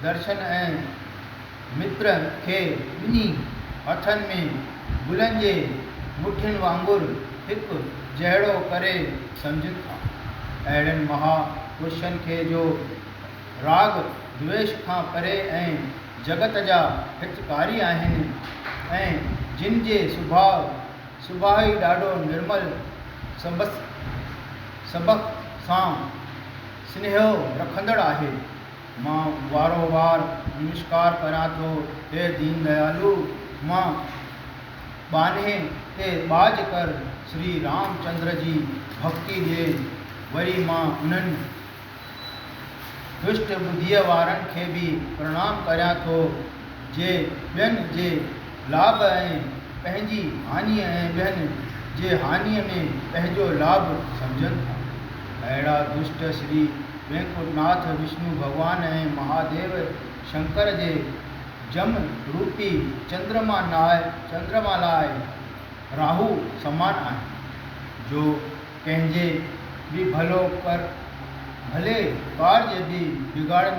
درشن ۽ متر کي ٻنهي هٿن ۾ گلن جي مٺين وانگر هڪ جهڙو ڪري سمجهن ٿا. اهڙن مها پرشن کي جو راڳ دويش کان پري ۽ جڳت جا هتڪاري آهن ۽ جن جي سڀاء سڀاء ئي ڏاڍو نرمل سبس سڀ سان سنيهو رکندڙ آهي. مان وارو وار نمسڪار ڪريان ٿو، هي دين ديالو! مان ٻانهي تي ٻاجهه ڪر شري رام چندر جي ڀڳتي ڏي، وري مان انهن دشٽ ٻڌيء وارن کي به پرڻام ڪريان ٿو، جي ٻين جي لاڀ ۽ پنهنجي هاڃي ۽ ٻين جي هاڃي ۾ پنهنجو لاڀ سمجهن ٿا. اهڙا دشٽ شري وينڪٽ ناٿ وشنو ڀڳوان ۽ مهاديو شنڪر جي جم روپي چندرما لاء راهو سمان آهن، جو ڪنهن جي به ڀلو ڪر، ڀلي ٻار جي به بگاڙن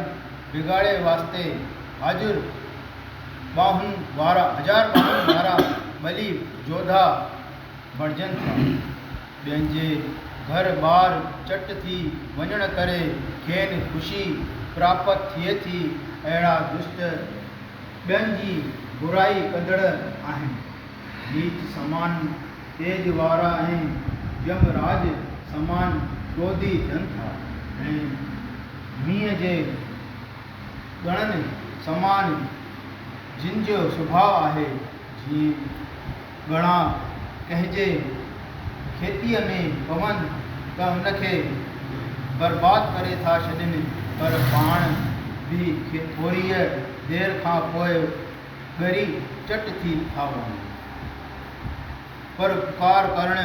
بگاڙي واسطي حاضر ٻانهن وارا، هزار ٻانهن وارا ٻلي جوڌا بڻجن ٿا. ٻين جي گهر ٻار چٽ ٿي وڃڻ ڪري کين خوشي پراپت ٿئي ٿي، اهڙا دشت ٻين جي برائي ڪندڙ آهن. نيچ سامان. تيج وارا ۽ يم راج سمان ڪروڌي ٿين ٿا ۽ مينهن جي ڳڻن سمان جن جو سڀاء آهي، جيئن ڳڻا ڪنهن جي کيتيء ۾ پون ته ان کي برباد ڪري ٿا ڇڏين، پر پاڻ به ٿوريء دير کان پوء ڳري چٽ ٿي ٿا وڃن. پروپڪار ڪرڻ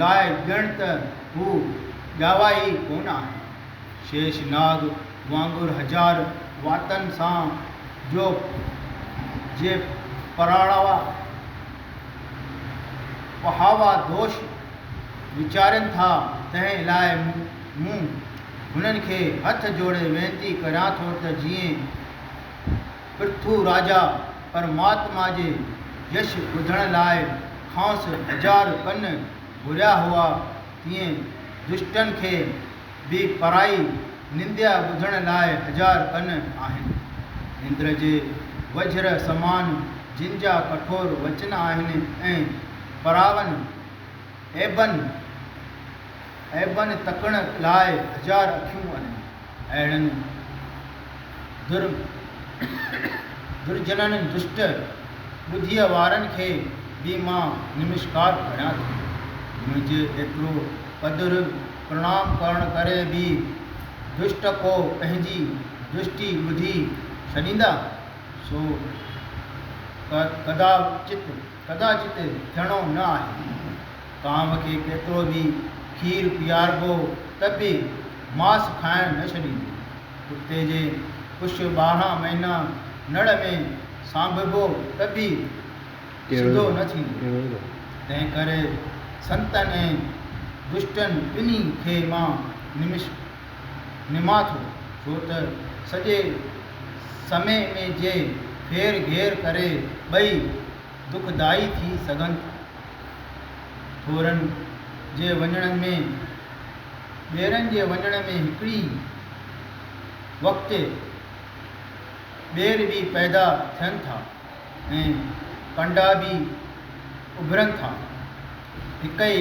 لاء ڄڻ ته هو ڄاوا ئي ڪونه آهن. شيش ناگ وانگر هزار واتن سان جو جي پراڙاوا پهاوا دوش ويچارين ٿا تنهن لاء مون هنن کي هٿ جوڙي وينتي ڪريان ٿو ته جيئن پرٿو راجا پرماتما جي يش ٻڌڻ لاء کانئس هزار ڪن گهريا هئا، تيئن دشٽن کي به پرائي ننديا ٻڌڻ لاء هزار ڪن آهن. نندر جي وجهر سمان جن جا ڪٺور وچن آهن ۽ پراون عيبن عيبن تڪڻ لاء هزار اکيون آهن. اهڙن درجنن دشٽ ٻڌيء وارن کي به مان نمشڪار ڀريان ٿي. منهنجي ايترو قدر پرڻام ڪرڻ ڪري به دشٽ ڪو پنهنجي دشٽي ٻڌي ڇڏيندا؟ سو ڪداچت ٿيڻو نه آهي. ڪانو کي ڪيترو به کير پياربو ته به ماس کائڻ نه ڇڏيندو. ڪتي جي پڇ ٻارهن مهينا نڙ ۾ سانڀبو ته به سڌو نه ٿيندو. تنهنڪري سنتن ۽ دشٽن ٻنهي کي مان نمش نمان ٿو، ڇو ته سڄي سمي ۾ جي ڦير گهير ڪري ٻئي دکدائي ٿي سگهن ٿا. ٿورن جي وڃڻ ۾، ٻيرن جي وڃڻ ۾ هڪڙي وقت ٻير به پيدا ٿين ٿا ۽ ڪنڊا به اڀرن ٿا. هڪ ئي.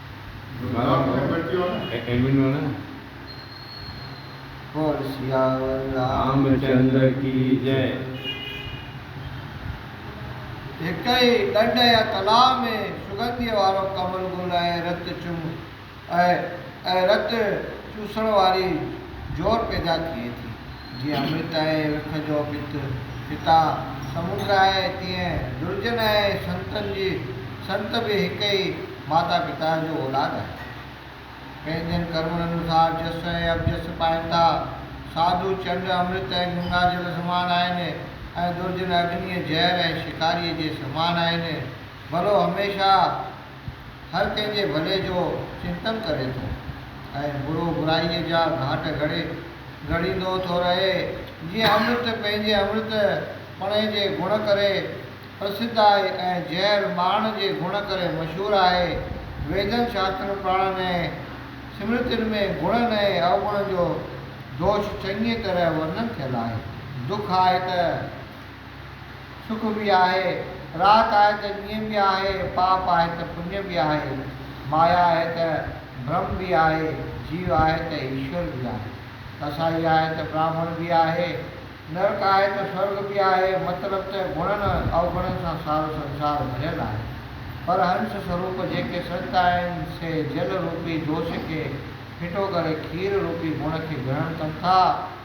هڪ ئي ڏنڊ يا تلاء ۾ سگنديء وارو ڪمل گل ۽ رت چم ۽ رت چوسڻ واري جور پيدا ٿئي ٿي. جيئن امرت آهي وک جو پت، پتا سمنڊ آهي، تيئن درجن ۽ سنتن جي سنت به هڪ ئي ماتا پتا جو اولاد آهن. پنهنجن ڪرمن انوسار جس ۽ اپجس پائن ٿا. ساڌو چنڊ، امرت ۽ گنگا جل سمان آهن ۽ درجن اگنيء، زهر ۽ شڪاريء جي سمان آهن. ڀلو هميشه هر ڪنهن جي ڀلي جو چنتن ڪري ٿو ۽ برو برائيء جا گهاٽ گهڙي گهڙيندو ٿو رهي. جيئن امرت پنهنجي امرت پڻي جي گڻ ڪري پرسڌ آهي ۽ زهر ماڻ جي گڻ ڪري مشهور آهي، ويدن، شاسترن، پراڻن ۽ سمرتين ۾ گڻن ۽ اوگڻن جو دوش چڱيء طرح ورنن ٿيل آهي. دک آهي ته. سک به آهي، رات آهي ته ڏينهن به آهي، پاپ آهي ته پڃ به آهي، مايا آهي ته برهم به آهي، جيو آهي ته ايشور به آهي، ڪسائي آهي ته براهمڻ به آهي، نرڪ آهي ته سورڳ به آهي، مطلب ته گڻن اوگڻن سان سارو سنسار ڀريل آهي، پر هنس سروپ جيڪي سنت آهن سي جل روپي جوش کي ڦٽو ڪري کير روپي گڻ کي گرهڻ ڪن ٿا،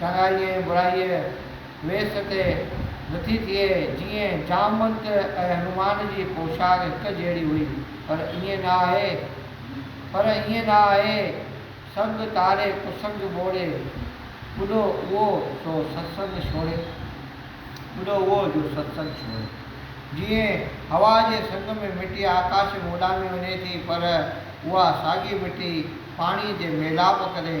چڱائيء ۽ برائيء ويس تي نٿي ٿئي، جيئن جامت ۽ هنومان جي پوشاڪ هڪ جهڙي هئي، پر ائين نه آهي، پر ائين نه آهي، سنگ تاري ڪسنگ ٻوڙي، ٻڏو اهو سو ستسنگ ڇوڙي، ٻڏو اهو جو ستسنگ ڇوڙي. جيئن هوا جي سنگ ۾ مٽي آڪاش ۾ اڏامي وڃي ٿي، پر اها ساڳي مٽي پاڻيء جي ميلاپ ڪري،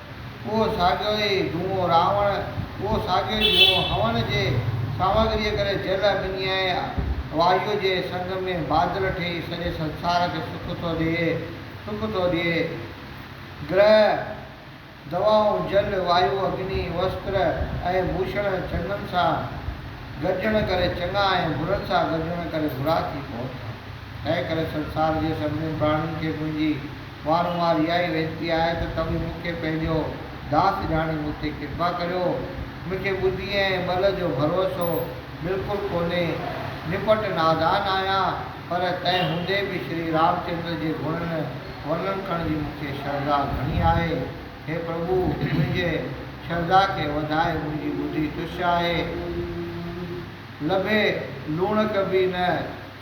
اهو ساڳيو ئي جوئون راوڻ، اهو ساڳيو ئي جوئون هون جي سامگريء ڪري جل، اگنيء ۽ وايوء جي سنگ ۾ بادل ٺهي سڄي سنسار کي سک ٿو ڏئي، سک ٿو ڏئي. گرهه، دوائون، جل، وايو، اگني، وستر ۽ ڀوشڻ چڱن سان گڏجڻ ڪري چڱا ۽ برن سان گڏجڻ ڪري برا ٿي پون ٿا. تنهن ڪري سنسار جي سڀني پراڻين کي منهنجي. وارو وار اها ئي وينتي آهي ته توهين مون کي پنهنجو داس ڄاڻي مون تي ڪرپا ڪريو. مون کي ٻڌي ۽ ٻل جو ڀروسو بلڪل ڪونهي. نپٽ نادان آهيان، پر تنهن هوندي به شري رامچندر جي گڻن ورنن ڪرڻ جي مون کي شرڌا گهڻي آهي. هي پرڀو! منهنجي شرڌا کي وڌائي، منهنجي ٻڌي تش آهي. لڀي لوڻڪ به نه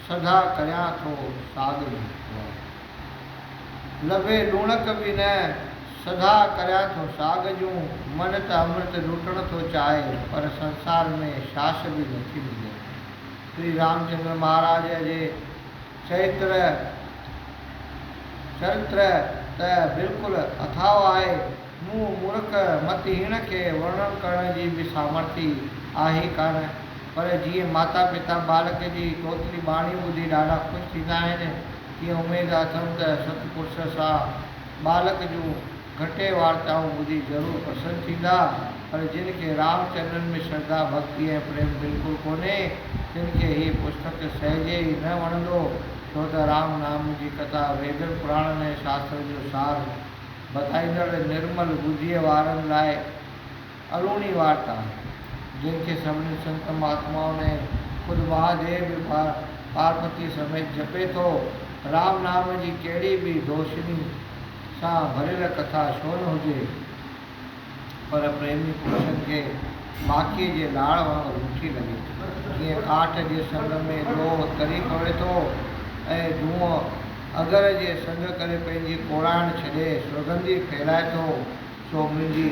سڌا ڪريان ٿو ساڳ ڀوڳ. لڀي لوڻڪ به نه سڌا ڪريان ٿو ساڳ جون، من ته امرت لوٽڻ ٿو چاهي پر سنسار ۾ شاس به نه ٿي ملي. شري رامچندر مهاراج جي چريتر چرتر ته بلڪل اٿاهو آهي. مون مورک مت هيڻ کي ورڻن ڪرڻ جي به سامرٿي آهي ڪانه، پر جيئن ماتا پتا ٻالڪ جي توتلي ٻاڻي ٻڌي ڏاڍا خوش ٿيندا آهن، تيئن اميد اٿم ته ست پرس سان ٻالڪ جون گهٽي وارتائون ٻڌي ضرور پسند ٿيندا، پر جن کي رام چرنن ۾ شرڌا، ڀڳتي ۽ پريم بلڪل ڪونهي، تن کي هي پستڪ سهجي ئي نه وڻندو، ڇو ته رام نام جي ڪٿا ويدن، پراڻن ۽ شاسترن جو سار هوندي. ٻڌائيندڙ نرمل ٻڌيء وارن لاء الوڻي وارتا آهي، جنهن کي سڀني سنت مهاتمائن ۽ خود مهاديو به پارپتيء سميت جپي ٿو. رام نام جي ڪهڙي به دوشني سان ڀريل ڪٿا ڇو نه هجي، پر پريمي پرشن کي ماکيء جي لاڙ وانگر مٺي لڳي. جيئن ڪاٺ جي سنگ ۾ لوهه تري پوي ٿو ۽ دونهون اگر جي سنگ ڪري پنهنجي ڪوڙائڻ ڇڏي سوڳندي ڦهلائي ٿو، سو منهنجي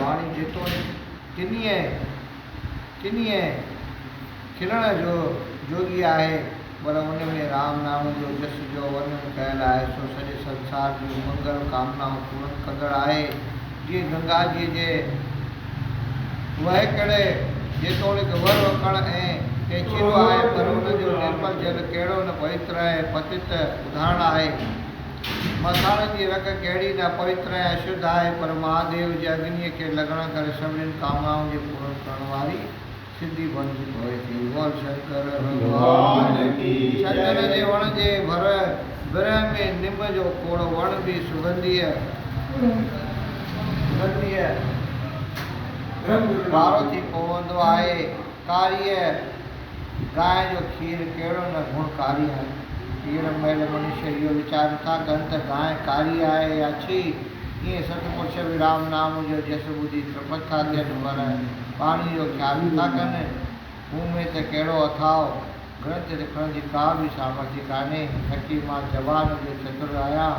واڻي جيتوڻيڪ ڪنيء ڪنيء کلڻ جوڳي آهي، پر ان ۾ رام نام جو جس جو ورنن ڪيل آهي سو سڄي سنسار جون منگل ڪامنائون پورن ڪندڙ آهي. جيئن گنگا جيء جي وهڪڙ جيتوڻيڪ ور وڪڻ ۽ پيچيدو آهي پر ان جو نرمل جل ڪهڙو نه پويتر ۽ پتت اڌاڻ آهي. مٿاڻن جي رڳ ڪهڙي نه پويتر ۽ اشڌ آهي پر مهاديو جي اگنيء کي لڳڻ ڪري سڀنين ڪامنائون جي پورن ڪرڻ واري سنڌي ڀنگ ڀوئي ٿي بول شنڪر ڀڳوان ڪي جئي. چندن جي وڻ جي ڀر برهه ۾ نم جو کوڙ وڻ به سگنڌيء. سگنڌيء رنگ ڳاڙهو ٿي پوندو آهي. ڪاريء گانء جو کير ڪهڙو نه گڻ ڪاري آهي. هينئر مئل منشي اهو ويچار نٿا ڪن ته گانء ڪاري آهي يا ڇي. ڪي ست پڇ به رام نام جو جس ٻڌي ترپت ٿا ٿين پر پاڻي جو خيال نٿا ڪن. مون ۾ ته ڪهڙو اٿاء گرنٿ لکڻ جي ڪا به سامرٿ ئي ڪانهي. نڪي مان زبان جو چتر آهيان،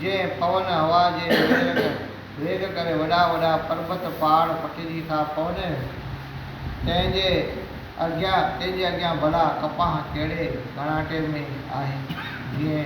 جنهن پون هوا جي ويرڳ ويگ ڪري وڏا وڏا پربت پاڙ پٽجي ٿا پون، تنهن جي اڳيان تنهن جي اڳيان ڀلا ڪپاهه ڪهڙي ڪڻاٽي ۾ آهي، جنهن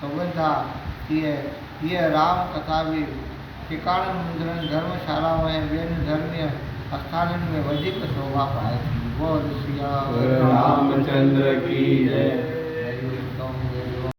سگهن ٿا، تيئن هيء رام ڪٿا به ٽڪاڻن، مندرن، ڌرم شالائن ۽ ٻين ڌرميء آستانن ۾ وڌيڪ سوڀا پائي ٿي. بول سياور رامچندر ڪي جئي. جئي ويشنو ويلوار.